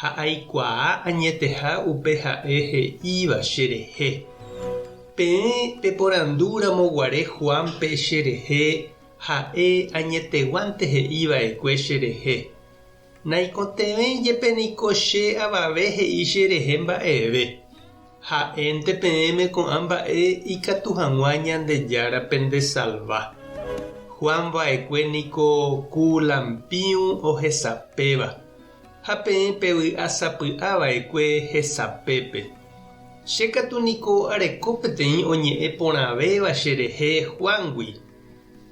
ha aikuaa añeteha upe ha'e he'íva cherehe. Peẽ peporandúramo guare Juánpe cherehe ha'e añeteguánte he'i va'ekue cherehe, naikotevẽ jepe niko che avave he'i cherehe mba'eve, ha'énte peẽme ko'ã mba'e ikatu hag̃ua Ñandejára pendesalva. Juan va'ekue niko ku lampiu ohesapéva, Ha peẽ pe vy'a sapy'a vaekue hesapépe. Che katu niko areko peteĩ oñe'ẽ porãvéva che rehe Juángui.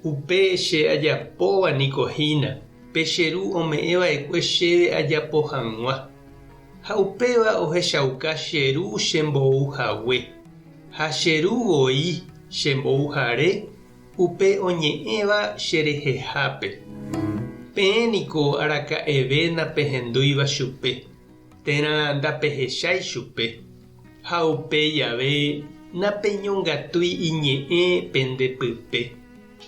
Upe che ajapóva niko hína, pe che Ru ome'ẽ vaekue chéve ajapo hag̃ua. Ha upéva ohechauka che Ru che mbou hague, ha che Ru voi che mbouhare, Upe oñe'ẽva cherehehápe, peẽ niko araka'eve napehendúiva chupe, térã ndapehechái chupe, ha upéi jave napeñongatúi iñe'ẽ pende pype,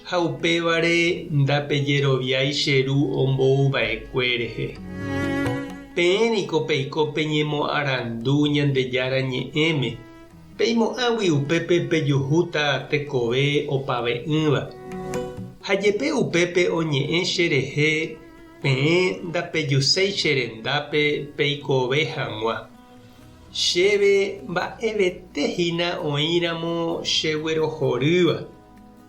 ha upévare ndapejeroviái che Ru ombouva'ekue rehe. Peẽ niko peiko peñemoarandu Ñandejára Ñe'ẽme, Peimo'ãgui upépe pejuhúta tekove opave'ỹva, ha jepe upépe oñe'ẽ che rehe, peẽ ndapejuséi che rendápe peikove hag̃ua. Chéve mba'evete hína oĩramo cheguerohorýva,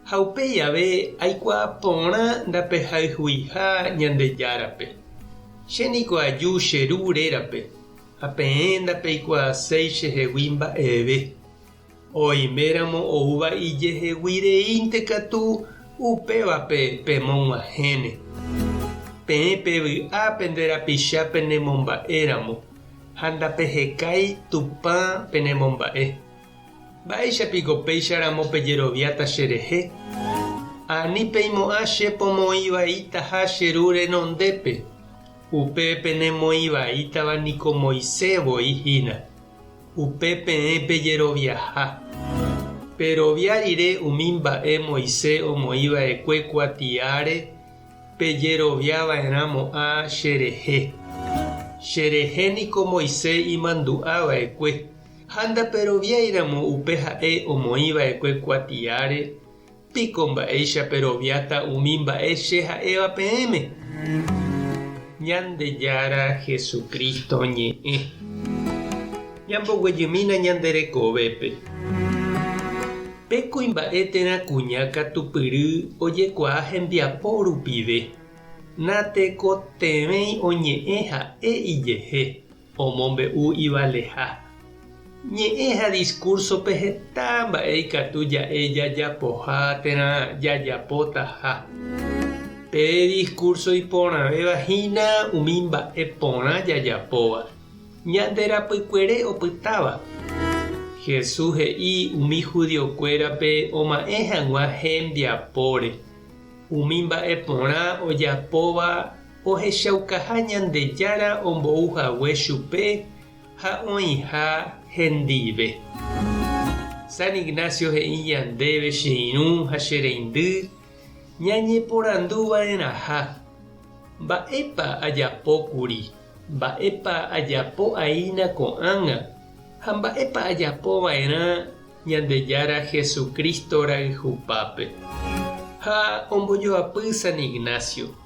ha upéi ave aikuaa porã ndapehayhuiha Ñandejárape. Che niko aju che Ru rérape, Ha peẽ ndapeikuaaséi che hegui mba'eve, oime ramo oúva ijehegui reínte katu upévape pemog̃uahẽne. Peẽ pe vy'a pende rapicha pene momba'e ramo, ha ndapehekái Tupã pene momba'e. Mba'éicha piko péicha ramo pejeroviáta che rehe? Ani peimo'ã che pomoĩ vaítaha che ru renondépe, Upe penemoĩvaítava niko Moisés voi hína, upe peẽ pejeroviaha. Perovia rire umi mba'e Moisés omoĩva'ekue kuatiáre pejeroviava'erãmo'ã cherehe. Cherehe niko Moisés imandu'ava'ekue, ha ndaperoviáiramo upe ha'e omoĩva'ekue kuatiáre, Piko mba'éicha peroviáta umi mba'e che ha'éva peẽme? Ñandejára Jesucristo ñe'ẽ. Ñamboguejymína ñande rekovépe. Pe kuimba'e térã kuña katupyry ojekuaa hembiapo rupive, natekotevẽi oñe'ẽ ha'e ijehe. Omombe'u ivaleha. Ñe'ẽ ha diskúrsope heta mba'e ikatu ja'e jajapoha térã jajapótaha. Pe diskúrso iporãvéva hína umi mba'e porã jajapóva, ñande rapykuere opytáva. Jesús he'i umi judiokuérape oma'ẽ hag̃ua hembiapóre umi mba'e porã ojapóva Ohechaukaha Ñandejára ombou hague chupe ha oĩha hendive. San Ignacio he'i ñandéve che irũ ha che reindy ñañeporandu va'erãha, Mba'épa ajapókuri, mba'épa ajapo aína ko'ág̃a ha mba'épa ajapo va'erã Ñandejára Jesucristo rayhupápe. Ha ombojoapy San Ignacio.